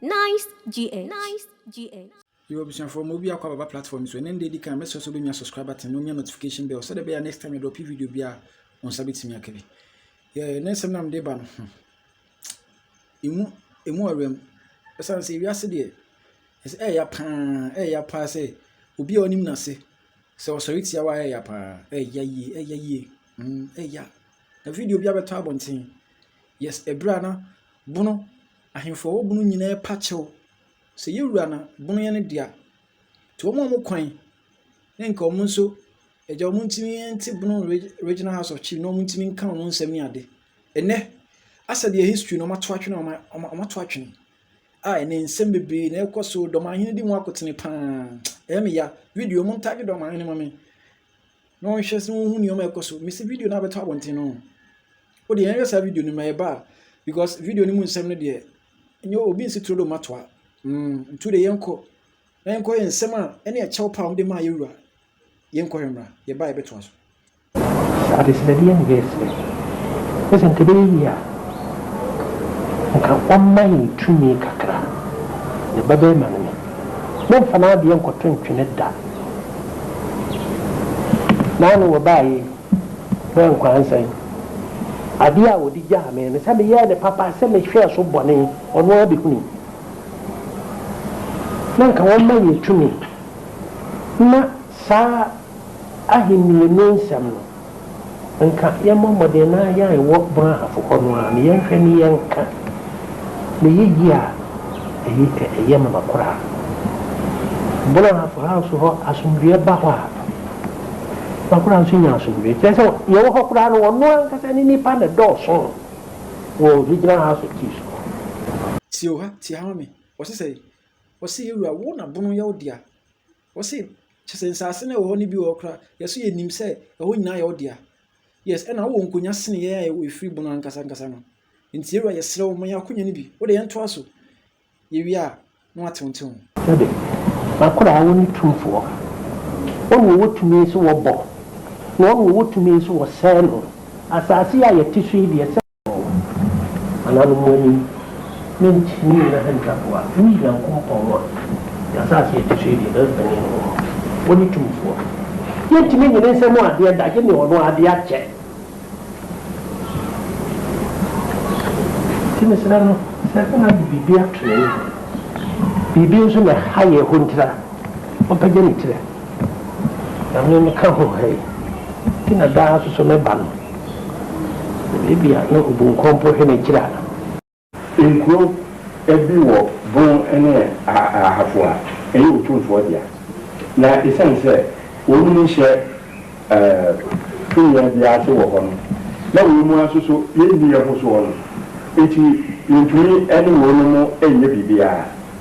Nice GH. Nice GH. Yo abusuafoɔ ma obi akɔ ababa platform so ɛnɛ nda edi kan mɛsrɛ so bɛnwa subscribe button na onya notification bell sɛdeɛ ɛbɛyɛ next time yɛdɔpe video bi a wɔn nsa bɛtumi aka bi yɛ ne nsɛm nam de ba no hmm. emu emu awuram ɛsan sɛ ewiase deɛ ɛsɛ ɛyɛ paa ɛyɛ paa sɛ obi a ɔnim n'ase sɛ ɔsɔre tia wa ɛyɛ paa ɛyɛ yie ɛyɛ yie hmm, ɛyɛ na video bi abɛtɔ abɔnten Yes, ɛberɛ a na bono, ahemfo a ɛwɔ bono nyinaa ɛpa kyɛw sɛ yɛn wura na bono yɛ ne dea. Nti wɔn a wɔn kwan ne nka wɔn nso agya wɔn ntumi nte bono regional house of chief na wɔn ntumi nka wɔn nsɛm ne ade. Ɛnɛ, asɛ deɛ history na wɔn ato atwene wɔn wɔn ato atwene a ɛnɛ nsɛm bebree na ɛkɔ so dɔm ahene di ho akotene paa ɛyɛ me ya video wɔn ntagye dɔm ahene ma me. na wɔnhwɛ sɛ wɔhu nneɛma a ɛkɔ so mesi video no abɛtɔ abɔnten no o deɛ yɛnhwɛ saa video no ma yɛba a because video no mu nsɛm no deɛ nyɛ obi nsi turo do ma toa mm ntu de yɛnkɔ na yɛnkɔ yɛ nsɛm a ɛne ɛkyɛw paa wɔde maa yɛwura yɛnkɔ yɛ mmra yɛba yɛbɛtoa so adesrɛdeɛ ne yɛ sɛ ne sɛ nka bɛyɛ yie a nka ɔmma yɛn tumi kakra ne ba bɛrima no me momfa no adeɛ nkɔto ntwene da Naano wɔbaa yi hwɛ nkwansɛn. Adeɛ a wɔde gyaa me no, sɛ meyɛɛ no papa, sɛ mehwɛɛ so bɔne, ɔno ara bɛhunu. Na anka wɔmma yɛn tumi mma saa ahennie no nsɛm no Nka yɛmmɔ mmɔden na yɛn wɔ Brahafo hɔ no ara na yɛnhwɛ na yɛnka ne yiye a ɛyi ɛyɛ ma no koraa. Brahafo house hɔ asomdwoeɛ ba hɔ a, na koraa nso nya asomdwoeɛ. Kyerɛ sɛ yɛwɔ hɔ koraa no wɔn ankasa ne nnipa na ɛdɔɔso wɔ Regional House of Chiefs no hɔ. Tioha, Tiahomi, wɔse sɛe, wɔse yɛ wura wo na bono yɛ wo dea, Wɔse kyerɛ sɛ nsase no a ɛwɔ hɔ no bi wɔ hɔ koraa yɛ so yɛ nim sɛ ɛhɔ nyinaa yɛ wo dea. Yes, ɛna wowɔ nkonya sene yɛn a yɛwɔ ɛfiri bono ankasa ankasa no. Nti yɛwura yɛsrɛ wo ma yɛn akonya no bi. Wode yɛn toa so. Yɛ wie a na wate wo nte ho. Hwɛde, m'akoraa wo ne tumfoɔ. Ɔne ɔwɔ tumi so wɔ bɔ, na ɔne ɔwɔ tumi so wɔ sɛɛ no. Asase yi a yɛte so yi deɛ sɛ. wɔn nananom mo anim, ne nkyimii no ahantanfoɔ a woyi Nyankopɔn a ne asaase a ɛte so yi deɛ ɛbɛyɛ panin no wɔ hɔ, wɔne tumfoɔ. Yɛntumi nnye ne nsa mu adeɛ da, gye deɛ ɔno ara de akyɛ. Nti mesrɛ mo sɛ moade biribi ato n'ani hɔ, biribi nso na ɛha yɛn ahontira, ɔmpagya ne tiri a, na me meka ho ha yi, nti na daa nso so meba no. Ebia na obu nkɔmpo hwene Gyira. Nkuro bi wɔ bon ne ahafo a ɛyɛ otumfoɔ dea, na esiane sɛ wɔnom nhyɛ tumi biara ase wɔ hɔ no, na wɔn mu ara nso so yɛnni yɛn ho soɔ no nti, yɛntumi ne wɔnom nyɛ biribiara.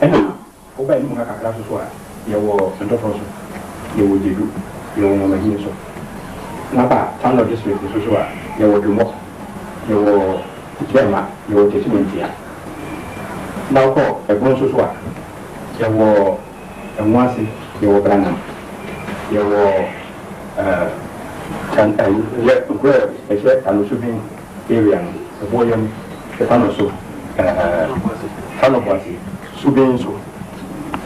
Ɛna woba anim ha kakra nso so a, yɛwɔ Ntɔfrɔ so, yɛwɔ Gyedu, yɛwɔ Nwamadini nso. Na ba Tano district nso so a, yɛwɔ Dwomɔ, yɛwɔ Gyɛma, yɛwɔ Techimantia. Na wokɔ Ɛbono nso so a, yɛwɔ Ɛnwoase, yɛwɔ Branam, yɛwɔ eh, Tan, eh, yɛ, nkuro a ɛhyɛ Tano Subin Area no, ɛboɔ yam, ɛfa no so, ɛɛ, fa no boase, so bɛn nso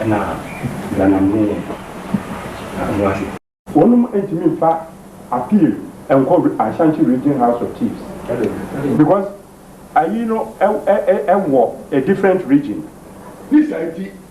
na Branham ne yɛn ho ase? Wɔnom ntumi nfa appeal nkɔ Ashanti Region House of Chiefs because ayi no ɛwɔ a different region. Ne saa nti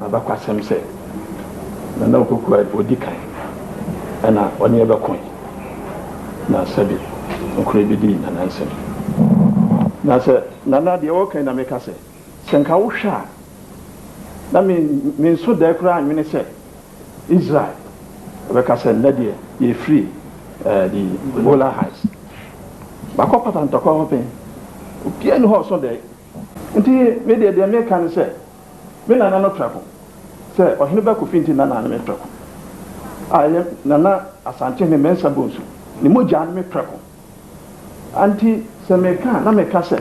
M'abakɔasɛm sɛ Nana Opoku a ɔdi kan na ɔne yɛ bɛkoe na sɛbe nokora yi bɛdi Nana nsam. Na sɛ Nana deɛ ɔka yi na meka sɛ, sɛ nka wo hwɛ a na me me nso dae koraa anwene sɛ Israel bɛka sɛ nnɛ deɛ yɛfiri eh, the Golan Heights makɔ patantɔkwa hɔ pɛn, obiara ni hɔ ɔso dae. Nti me deɛ deɛ meka ne sɛ. Me nana no prɛko sɛ Ɔhene Bako Finti nana ne me prɛko a ɛyɛ Nana Asantehene Mensah Bonsu ne mogya ne me prɛko a nti sɛ meka a na meka sɛ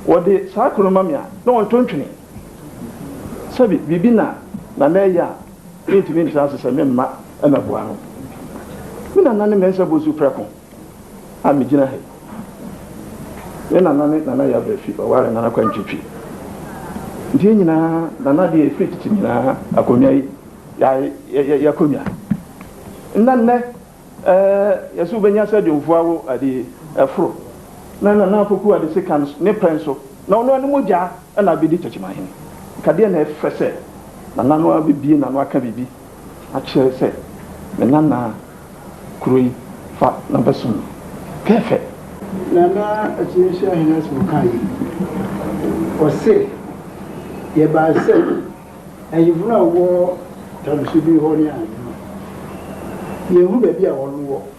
wɔde saa kuro no ma me a na wɔnto ntwene sɛbi biribi na Nana reyɛ a mentumi ntra ase sɛ me mma na boa no. Me nana ne Mensah Bonsu prɛko. a megyina ha yi, me nana ne Nana Yabra fi ɔware Nana Kwantwi Twi. Nti yɛn nyinaa, Nana deɛ ɛfiri tete nyinaa, akonnwa yi, yɛayɛ y'akonnwa. Na nnɛ, ɛɛ, yɛsɛ wobɛnya sɛ dwomfoɔ awo adeɛ yi, ɛforo. Na Nana Apoku Adeseka ne pɛn so, na ɔno ara ne mogya na abɛdi Takyimanhene. Nka deɛ na ɛfɛ sɛ Nana no ara bɛbie n'ano aka biribi. akyerɛ sɛ me nana kuro yi fa na bɛ som pɛɛfɛ. Nana Akyinyehyia Hene Asɛm kaa yei, ɔse, Yɛbae sɛ ahemfo no a wɔwɔ Tamusibi hɔ ne ahemfo no, yɛhu baabi a wɔn wɔ.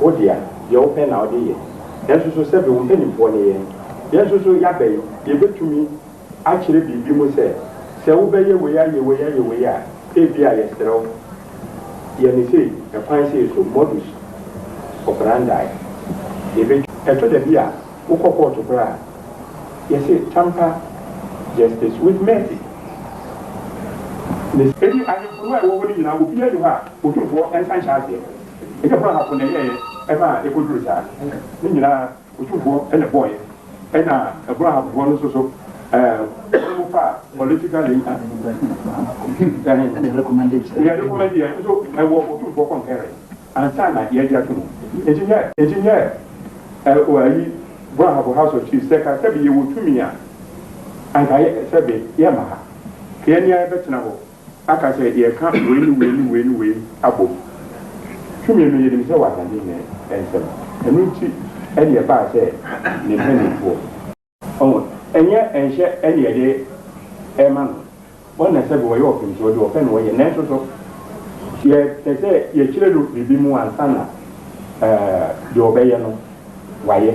Wo dea, deɛ wo pɛ na wode yɛ. Nanso so sɛbe wo mpanimfoɔ ne yɛn? Yɛn nso so yɛaba yi, yɛbɛtumi akyerɛ biribi mu sɛ, Sɛ wobɛyɛ wei ayɛ wei ayɛ wei a, ebia yɛsrɛ wo, yɛ no sei, ɛkwan sei so, modus operandi. Yɛbɛtumi. Ɛtɔ da bi a, wokɔ kɔɔto koraa a, yɛse, Tamper justice with mercy. Ne. Enti ahemfo no a ɛwɔ hɔ no nyinaa, obiara nni hɔ a Otumfoɔ nsa nhyɛ aseɛ. Ɛnyɛ Rahab na ɛyɛeɛ ma ɛkɔduruu saa. Ne nyinaa Otumfoɔ na ɛbɔeɛ. Ɛna Rahabfoɔ no nso so, wɔn mu fa political leader, deɛ yɛrekomɛndeɛ nso ɛwɔ Otumfoɔ concurrence ansa na yɛagye ato mu. Nti nyɛ, nti nyɛ ayi Rahab House of Chiefs sɛ ka sɛbe yɛwɔ tumi a, anka yɛ, sɛbe yɛmma ha. Kea nia yɛbɛtena hɔ. Aka sɛ yɛka wei ne wei ne wei ne wei abom. Tumi no, yɛnim sɛ wɔ ahene ne nsam. Ɛno nti ɛne ɛbaa sɛ ne mpanimfoɔ. Ɔho, ɛnyɛ nhyɛ ɛne yɛde rema no. Wɔn na sɛbe wɔyɛ ɔpemsoɔ de ɔpɛ na wɔyɛ. Nanso so yɛpɛ sɛ yɛkyerɛ no biribi mu ansa na ɛɛ deɛ ɔbɛyɛ no wayɛ?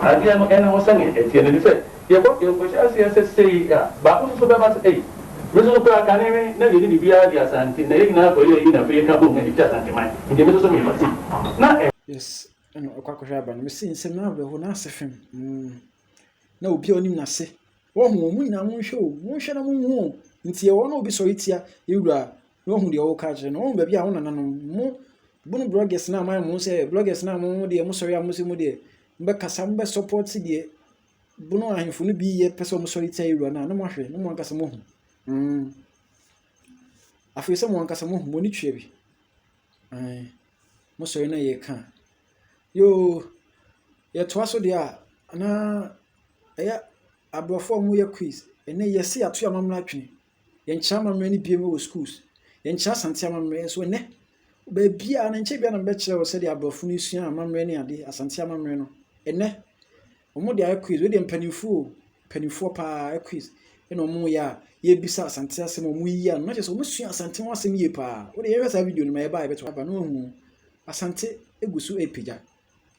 Adeɛ no nna hɔ sɛdeɛ ɛteɛ no, ɛfiri sɛ yɛbɔ deɛ nkɔhyɛ aseɛ sɛ sei a, baako nso so bɛba sɛ ei, me nso so koraa kane me na yɛnni biribiara de Asante na yɛn nyinaa kɔyɛ ayi na afei yɛka bom na yɛgye Asante man nti me nso so meba sei na ɛ. Yes, ɛna ɔkɔ akɔhwɛ aba no, mese nsɛm no awerɛhoɔ na ase fem, mm, na obiara ɔnim n'ase. Wahu o, mo nyinaa monhwɛ o, monhwɛ na monhu o, nti ɛwɔ na obi sɔre tia yɛ wura a, na wahu deɛ ɔreka akyerɛ no. Wahu baabi a wo nananom, mo bunu bloggers no a moayɛ mo sɛ bloggers no a mo mo deɛ mosɔre a mo sɛ mo deɛ mobɛkasa, mobɛ support deɛ bunu ahemfo no bi yɛ pɛ sɛ wɔsɔre tia yɛ wura no a, na moahwɛ, na mo ankasa moahu. Mm. Afei sɛ mo ankasa moahu, mo ani twea bi. Mm. Mosɔre na yɛka. Yoo, yɛtoa so deɛ a, na Ɛyɛ aborɔfo a wɔyɛ quiz. Ɛnnɛ yɛse yɛato yɛn amammerɛ atwene. Yɛnkyerɛ amammerɛ no bio wɔ schools. Yɛnkyerɛ Asante amammerɛ nso ɛnnɛ. Baabiara no nkyɛ bia na mebɛkyerɛ wɔ sɛdeɛ aborɔfo no sua amammerɛ ne ade, Asante amammerɛ no. Ɛnnɛ, wɔn de ayɛ quiz. Wei deɛ mpanimfo o, mpanimfoɔ paa ayɛ quiz. Ɛna wɔn yɛ a, yɛbisa Asante asɛm a wɔn yiyi ano. Na kyerɛ sɛ wɔn sua Asante ho asɛm yie paa. Wode yɛhwɛ saa video no ma yɛba a yɛbɛto aba na wɔahu Asante egu so repagya.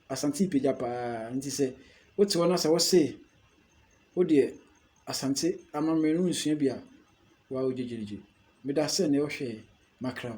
Asante repagya pa ara nti sɛ wote hɔ na sɛ wɔse wo deɛ Asante amammerɛ no wonsua bi a, w'awo gyegyeregye. Meda ase sɛ nnɛ wohwɛɛ Makraw.